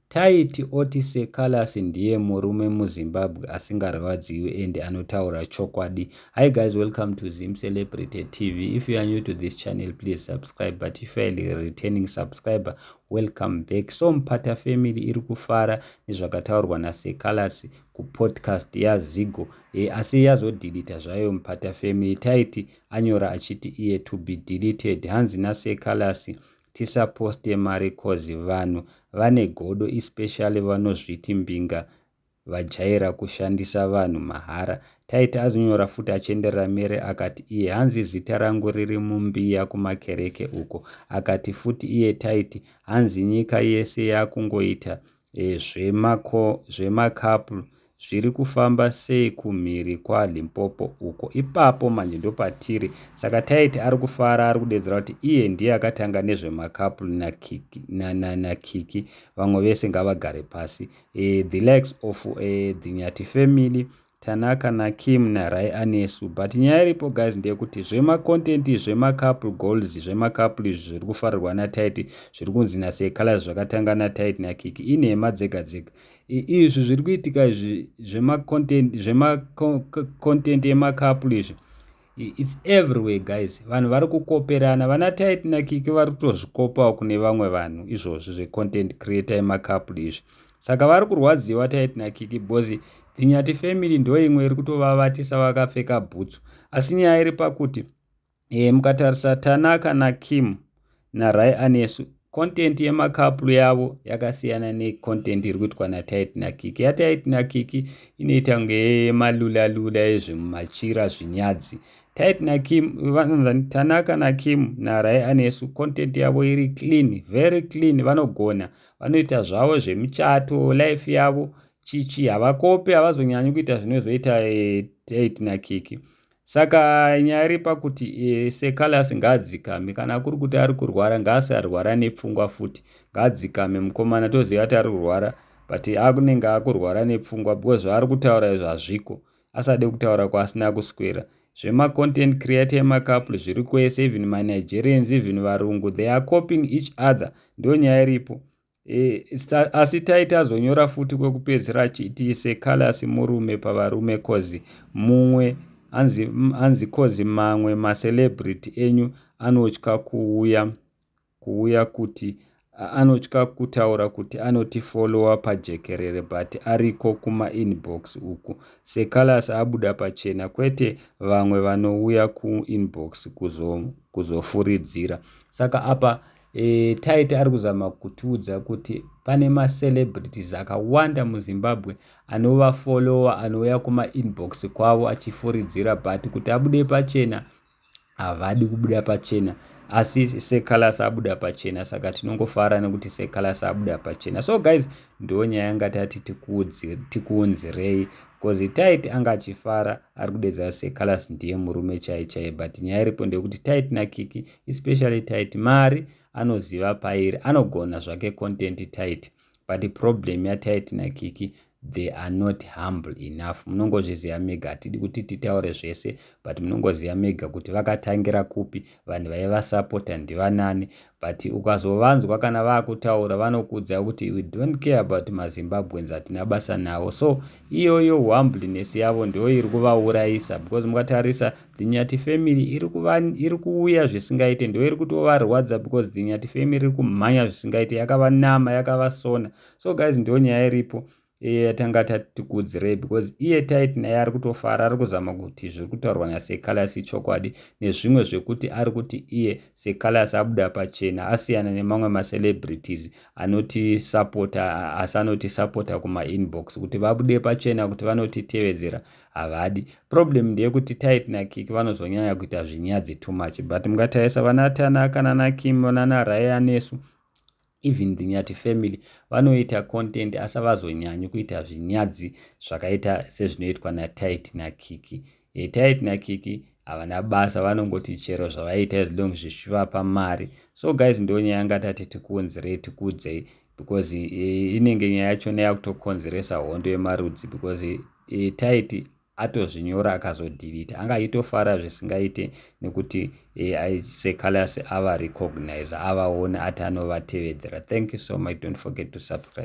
Taiti oti Sir Callas ndiye murume muZimbabwe asingarwadziwi and anotaura chokwadi. Hi guys, welcome to Zim Celebrity TV. If you are new to this channel, please subscribe. But if you are a returning subscriber, welcome back. So Mpata family iri kufara nezvakataurwa naSir Callas kupodcast yaZigo. E, asi yazodilita zvayo Mpata family. Taiti anyora achiti iye to be deleted. Hanzi naSir Callas tisaposte mari coz vanhu vane godo especially vanozviti mbinga vajaira kushandisa vanhu mahara taiti azonyora futi achienderera mere akati iye hanzi zita rangu riri mumbiya kumakereke uko akati futi iye taiti hanzi nyika yese yakungoita Zvemakapl zviri kufamba sei kumhiri kwaLimpopo uko. Ipapo manje ndopatiri. Saka taiti ari kufara ari kudedzera kuti iye ndiye akatanga nezvemakapl nakiki vamwe vese ngavagare pasi. Eh, the likes of eh, the Nyati family Tanaka naKim naRay anesu but nyaya iripo guys ndeyekuti zvemacontent izvi zvemacouple goals zvemacouple izvi zviri kufarirwa naTight zviri kunzi naSekala zvakatanga naTight naKiki inhema dzega dzega izvi zviri kuitika izvi zvemacontent zvemacontent emacouple izvi its everywhere guys vanhu vari kukoperana vana tait nakiki vari kutozvikopawo kune vamwe vanhu izvozvi zvecontent creator emacouple izvi saka vari kurwadziwa tait nakiki bcoz dzinyati family ndo imwe iri kutovavatisa vakapfeka bhutsu asi nyaya iri pakuti e, mukatarisa tanaka nakim naRay Anesu content yemacouple yavo yakasiyana necontent iri kuitwa natit nakiki yatit nakiki inoita kunge yemalula lula ezvemumachira zvinyadzi tit nakim vanonzani tanaka nakim narai anesu content yavo iri clean very clean vanogona vanoita zvavo zvemuchato life yavo chichi havakopi havazonyanyi kuita zvinozoita eh, tit nakiki saka nyaya iri pakuti e, sekalasi ngaadzikame kana akuri kuti ari kurwara ngaasarwara nepfungwa futi ngaadzikame mukomana toziva kuti ari kurwara but akunenge akurwara nepfungwa because zvaari kutaura izvo hazviko asade kutaura kwaasina kuswera zvemacontent creator emacouple zviri kwese even manigerians even varungu they are copying each other ndo nyaya iripo E, asi taiti azonyora futi kwekupedzisira achiti sekalasi murume pavarume kozi mumwe anzi, anzi kozi mamwe macelebrity enyu anotya kuuya kuuya kuti anotya kutaura kuti anotifolowa pajekerere but ariko kumainbox uku sekalasi abuda pachena kwete vamwe vanouya kuinbox kuzofuridzira kuzo saka apa E, Taiti ari kuzama kutiudza kuti pane macelebrities akawanda muzimbabwe anova follower anouya kumainbox kwavo achifuridzira but kuti abude pachena havadi kubuda pachena asi secalas abuda pachena saka tinongofara nekuti secalas abuda pachena so guys ndo nyaya yanga tati tikuunzirei bcause tait anga achifara ari kudedza secalas ndiye murume chai chai but nyaya iripo ndeyekuti tait nakiki especially tight mari anoziva pairi anogona zvake content tight but problem yatight nakiki they are not humble enough munongozviziva mega hatidi kuti titaure zvese but munongoziva mega kuti vakatangira kupi vanhu vaivasapota ndivanani but ukazovanzwa kana vakutaura vanokudza kuti we don't care about mazimbabweans hatina basa navo so iyoyo humbleness yavo ndiyo iri kuvaurayisa because mukatarisa Dzinyati family iri kuva iri kuuya zvisingaite ndo iri kutovarwadza because Dzinyati family iri kumhanya zvisingaite yakavanama yakavasona so guys ndo nyaya iripo iye yatanga tatikudzirei because iye tait naye ari kutofara ari kuzama kuti zviri kutaurwa nasecalas ichokwadi nezvimwe zvekuti ari kuti iye secalas abuda pachena asiyana nemamwe macelebrities anotisapota asi anotisapota kumainbox kuti vabude pachena kuti vanotitevedzera havadi problem ndeyekuti tit nakik vanozonyanya kuita zvinyadzi too much but mungatarisa vana tanaka nanakim nana raya nesu even the nyati family vanoita content asi avazonyanyi kuita zvinyadzi zvakaita sezvinoitwa natit nakiki e, tit nakiki havana basa vanongoti chero zvavaita as long zvichivapa mari so guys ndonyaya ngatati tikuunzirei tikuudzei because inenge nyaya yacho neyakutokonzeresa hondo yemarudzi because taiti atozvinyora akazodhirita anga achitofara zvisingaite nekuti secalus ava recognize avaone ati anovatevedzera thank you so much don't forget to subscribe